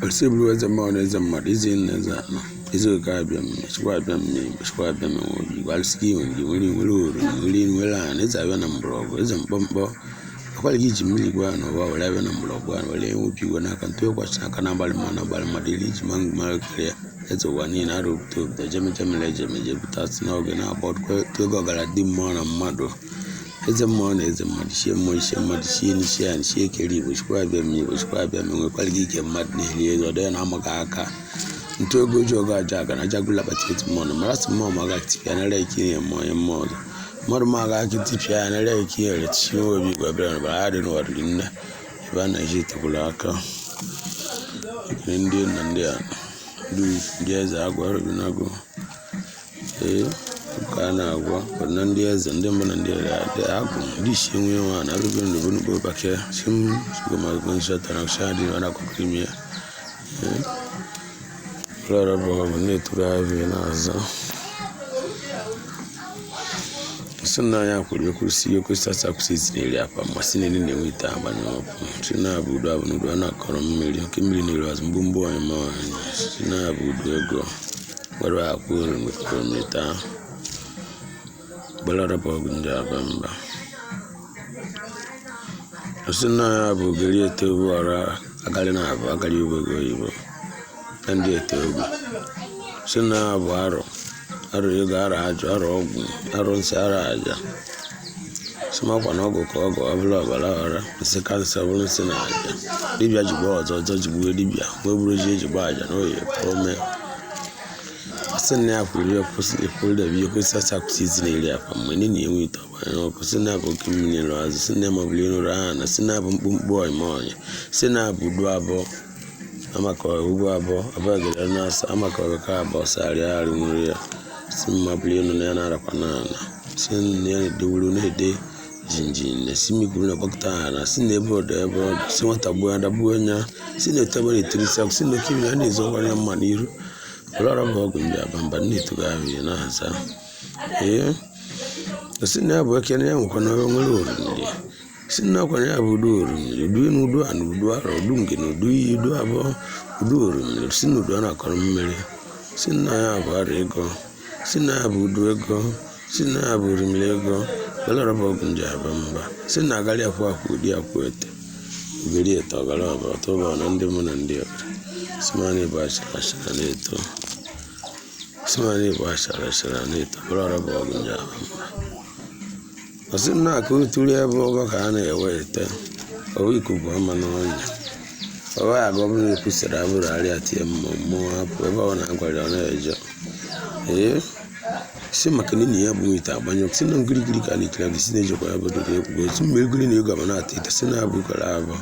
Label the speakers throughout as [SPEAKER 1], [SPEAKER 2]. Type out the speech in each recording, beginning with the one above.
[SPEAKER 1] Osebuluwa eze mmụọ na eze mmadụ, eze enu eze ana, eze oke abịama, chukwu abịama, chukwu abịama, igwe alụsịka iwe ndị nwere nwere ori, nwere nwere ana, eze abịa na mgbọrọgwụ, eze mkpọmkpọ, akwara gị ji mmiri gwa na ụwa were abịa na mgbọrọgwụ a were enwepi igwe n'aka ntụ ịkwasị aka na abalị mma na abalị mmadụ iri iji ma ngụma karịa eze ụwa niile arụ obodo obodo jemejemele ejemeje pụtasị n'oge na-agba ọdụkọ ego ọgara dị mmụọ na mmadụ eze mmụọ na eze mmadụ ichie mmụọ ichie mmadụ chie n'ichie ya nchie ekere igbo chukwu abịama igbo chukwu abịama enwekwara gị ike mmadụ na-eri ego ọdọ ya na amaghị aka ntu ego ji ọgụ aja aga na ajagụla bata eti mmụọ na mara sị mmụọ ma aga tipịa nara ike ihe mmụọ onye mmụọ ọzọ mmadụ ma aga aka tipịa ya nara ike ihe ere tichie nwe obi igwe bịara bara ha dị n'ụwa riri nne ebe a na-eji etekwuru aka ekele ndị nna ndị a ndị ukwu, ndị eze agwa rụrụ n'agụ Ee, nke a na-agwa kwadona ndị eze ndị mbụ na ndị ere adị agụ ndị isi enwe enwe a na-arụbe ndụ bụ n'ugbo bakịa si m sugomagbo nsọ tara nsọ adị ọ na-akụkọ ime ya ụlọọrụ bụ ọ bụ na-eturu abịa na-azọ si na ya kwuru ekwusi ekwesị asa akwụsị eziri eri akwa ma si n'eri na-enwe ite agba na ọkụ si na-abụ udu abụọ n'udu a na-akọrọ mmiri oke mmiri na-eru azụ mgbu mgbu anyị ma anyị si na-abụ udu ego Gbara akwa oromita gbalaraba ọgụ ndị aba mba ọ sị na ya bụ ogeri ete obu ọra agarị na abụ agarị obogo oyibo na ndị ete obu si na ya bụ arọ arọ ego arọ ajụ arọ ọgwụ arọ nsị arọ aja sị m ọkwa na ọgwụ ka ọgwụ ọbụla ọbara ọra nsị ka nsị ọbụla nsị na aja dibịa jigbuo ọzọ ọzọ jigbuo dibịa wee bụrụ ji ejigbo aja na oyi pụọ mee sị na ya kwuru ya kwụsị ekwuru da biyo kwụsị asa kwụsị izi na iri akwa mgbe ndị na-enwe ite ọgba ya ọkụ sị na abụ oke mmiri lụ azụ sị na mọbụla ịnụrụ aha na sị na abụ mkpụmkpụ ọnyịma ọnya sị na abụ udu abụọ amakọrọ ugbo abụọ abụọ gere na asa amakọrọ ka abụọ sarịa arị nwere ya si mma bụrụ elu na ya na-arakwa na ala si ya na-edewuru na-ede jinjin na si miguru na gbakọta ala si na ebe ọdọ ebe ọdọ si nwata gbuo ada gbuo nya si na etebe na etiri si si na oke ya na-ezo ọgwara ya mma n'iru were ọrụ bụ ọgwụ ndị aba mba nne etugo ahụ ya na-aza ee si na ya bụ ekene ya nwekwa na nwere orumiri si nnọkwanye ya bụ udu orumiri udu enu udu ana udu arọ udu ngene udu iyi udu abụọ udu orumiri si na udu a na-akọrọ mmiri si na ya bụ ara ego si na ya bụ udu ego si na ya bụ orimiri ego belarọba ọgụ ndị aba mba si na agarị akwụ akwụ ụdị akwụ ete uberi ete ọgara ọba ọtọba na ndị mụ na ndị ọbara simani bụ achara achara na-eto simani bụ achara achara na-eto belarọba ọgụ ndị aba mba ọsị nna ka oturu ebe ọba ka a na-eweta owe ikuku ama n'ọnya owe abụ ọbụla ekwusịrị abụrụ arịa tie mmụọ mmụọ hapụ ebe ọ na-agwara ọ na-eje ee si maka na enyi ya bụ ite agbanyụ si na ngirigiri ka na-ekiri abụ si na-ejekwa ya bụrụ na ekwugo si mgbe egiri na ego abana ata ite si na abụ kara abụ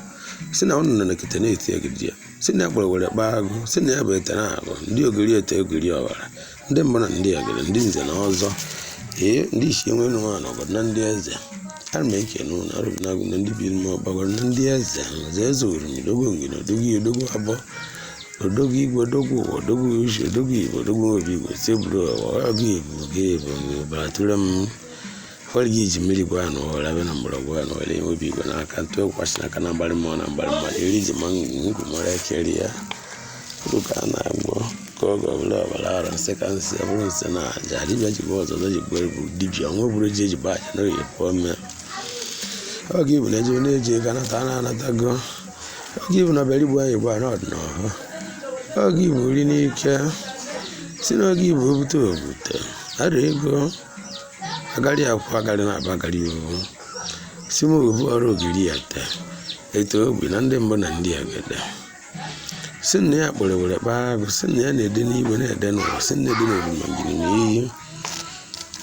[SPEAKER 1] si na ụnụ na kete na-eti egidi ya si na ya gbara were kpaa agụ si na ya bụ ete na agụ ndị ogiri ete ogiri ọbara ndị mbụ na ndị egede ndị nze na ọzọ ee ndị isi enwe nụ nwa na ọgọdụ na ndị eze ana m ekene unu arụ m na-agụ na ndị biri m ọgbagọrọ na ndị eze nze eze oriri odogwu ngene odogwu ya odogwu abụọ odogwu igwe odogwu ụwa odogwu uche odogwu igbo odogwu obi igbo tebụl ụwa ọgụ igbo gị igbo mgbe ụbara tụrụ m ọrịa gị ji mmiri gwa ya na ọhụrụ abịa na mgbọrọgwụ ya na ọrịa enwe obi igwe n'aka ntụ ekwasị n'aka na mgbarị mmụọ na mgbarị mmadụ eri ji ma ngwụ mara ekeri ya uru ka a na-agwọ ka oge ọbụla ọbara ara nsị ka nsị ọ bụrụ nsị na aja dibịa ji bụ ọzọ ọzọ ji bụ ebu dibịa ọnwa bụrụ ji eji bụ aja na oyi pụọ mmịa oge ibu na-eji na-eji ego anata na anatago oge ibu na ọ bịara igbu anyị gwa na ọdịnọhụ oge ibu nri n'ike si n'oge ibu obute obute ara ego agarị akwụ agarị na-aba agarị owu si m obu ọrụ ogiri ya taa eto ogbi na ndị mbụ na ndị egede si na ya kpọrọ were kpaa agụ si na ya na-ede n'igwe na-ede n'ụwa si na ede n'oroma jiri na iyi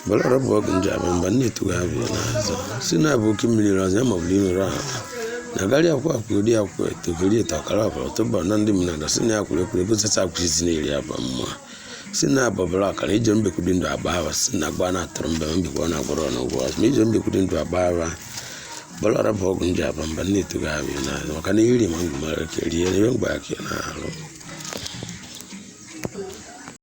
[SPEAKER 1] bụrụ ọrụ bụ ọgụ nje abụ mba na-etughị abụ n'azụ si na abụ oke mmiri zoo ya ma ọ bụrụ imere ahụ na agarị akwụ akwụ ori akwụ eto ogiri eto ọkara ọbara tụba na ndị mmadụ si na ya kwuru ekwuru egosisi akwụsịzi na-eri aba mma si na abọbara akara ije mbekwu dị ndụ agba ahụ si na agba na-atụrụ mbe mbekwa na agwọrọ na ụgwọ azụ ma ije mbekwu dị ndụ agba ahụ bọlara bụ ọgwụ nje aba mba na-eto gị ahụ na maka na iri ma ngwụ mara ka rie ihe mgbe aka na-arụ